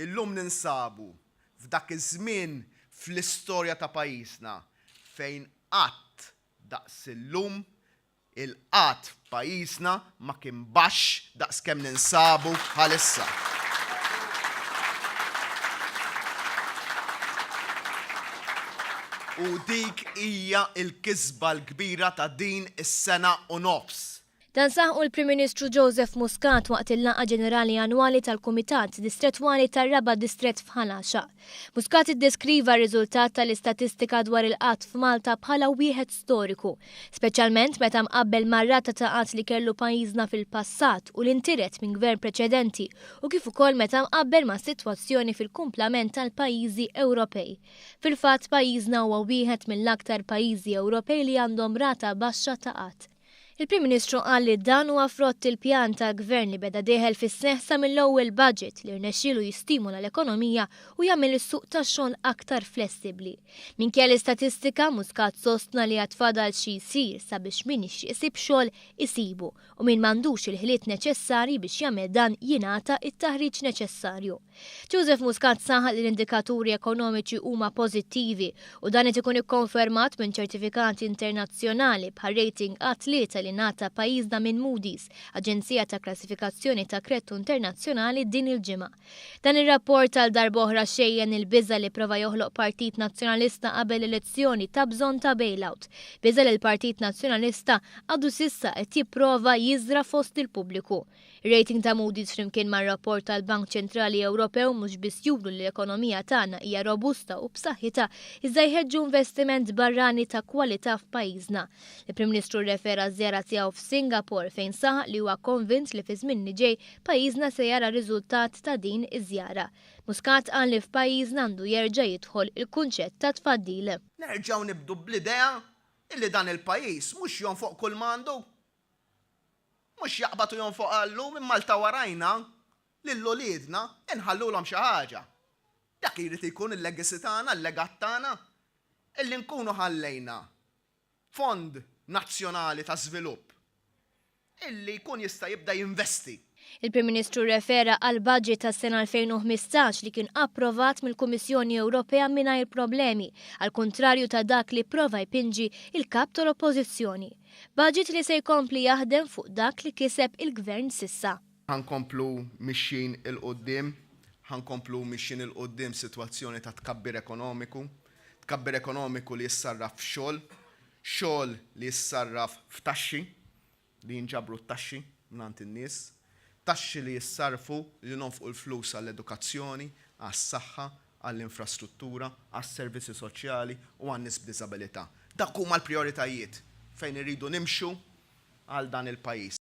Illum ninsabu f'dak iż-żmien fl-istorja ta' pajjiżna fejn qatt daqs illum il-qgħad f'pajjiżna ma kien baxx daqs kemm ninsabu bħalissa. U dik hija l-kisba l-kbira ta' din is-sena u nofs Dan saħqu l-Prim Ministru Joseph Muscat waqt il-laqgħa ġenerali annwali tal-Kumitat Distrettwali tar-Raba' Distrett f'Ħal Għaxaq. Muscat iddeskriva r-riżultat tal-istatistika dwar il-qgħad f'Malta bħala wieħed storiku, speċjalment meta mqabbel mar-rata ta' qgħad li kellu pajjiżna fil-passat u li ntiret minn Gvern preċedenti u kif ukoll meta mqabbel mas-sitwazzjoni fil-kumplament tal-pajjiżi Ewropej. Fil-fatt, pajjiżna huwa wieħed mill-aktar pajjiżi Ewropej li għandhom rata baxxa ta' qgħad. Il-Prim Ministru qal li dan huwa frott il-pjan tal-Gvern li beda dieħel fis-seħħ sa mill-ewwel budget li rnexxielu jistimola l-ekonomija u jagħmel is-suq tax-xogħol aktar flessibbli. Minkejja l-istatistika, Muscat sostna li għad fadal xi jsir sabiex min jixtieq isib xogħol isibu u min m'għandux il-ħiliet neċessarji biex jagħmel dan jingħata t-taħriġ neċessarju. Joseph Muscat saħaq li l-indikaturi ekonomiċi huma pożittivi u dan qed ikun ikkonfermat minn ċertifikati internazzjonali bħar-rating A3 li ngħata pajjiżna minn Moody's, aġenzija ta' klassifikazzjoni ta' kredtu internazzjonali din il-ġimgħa. Dan ir-rapport għal darb'oħra xejjen il-biża' li prova joħloq Partit Nazzjonalista qabel l-elezzjoni ta' bżonn ta' bailout, biża' li l-Partit Nazzjonalista għadu s'issa qed jipprova jiżra' fost il-pubbliku. Ir-rating ta' Moody's flimkien mar-rapport tal-Bank Ċentrali Ewropew mhux biss juru li l-ekonomija tagħna hija robusta u b'saħħitha iżda jħeġġu investiment barrani ta' kwalità f'pajjiżna. Il-Prim Ministru rrefera ż-żjara tiegħu f'Singapore fejn saħaq li huwa konvint li fiż-żmien li ġej pajjiżna se jara riżultat ta' din iż-żjara. Muscat qal li f'pajjiżna għandu jerġa' jidħol il-kunċett ta' tfaddil. Nerġgħu nibdu bl-idea illi dan il-pajjiż mhux jonfoq kull ma għandu. Mhux jaqbad u jonfoq għallu minn Malta warajna lil uliedna inħallulhom xi ħaġa. Dak li jrid jkun il-legacy tagħna, l-legat tagħna, illi nkunu ħallejna fond nazzjonali ta' żvilupp illi jkun jista' jibda jinvesti. Il-Prim Ministru rrefera għall-baġit tas-sena 2015 li kien approvat mill-Kummissjoni Ewropea mingħajr problemi, għall-kuntrarju ta' dak li pprova jpinġi l-Kap tal-Oppożizzjoni. Baġit li se jkompli jaħdem fuq dak li kiseb il-Gvern s'issa. Ħa nkomplu mixjin 'il quddiem. Ħa nkomplu mixjin 'il quddiem f'sitwazzjoni ta' tkabbir ekonomiku. Tkabbir ekonomiku li jissarraf f'xogħol. Xogħol li jissarraf f'taxxi. li jinġabru t-taxxi mingħand in-nies, taxxi li jissarrfu li nonfqu l-flus għall-edukazzjoni, għas-saħħa, għall-infrastruttura, għas-servizzi soċjali u għan-nies b'diżabilità. Dak huma l-prijoritajiet fejn irridu nimxu għal dan il-pajjiż.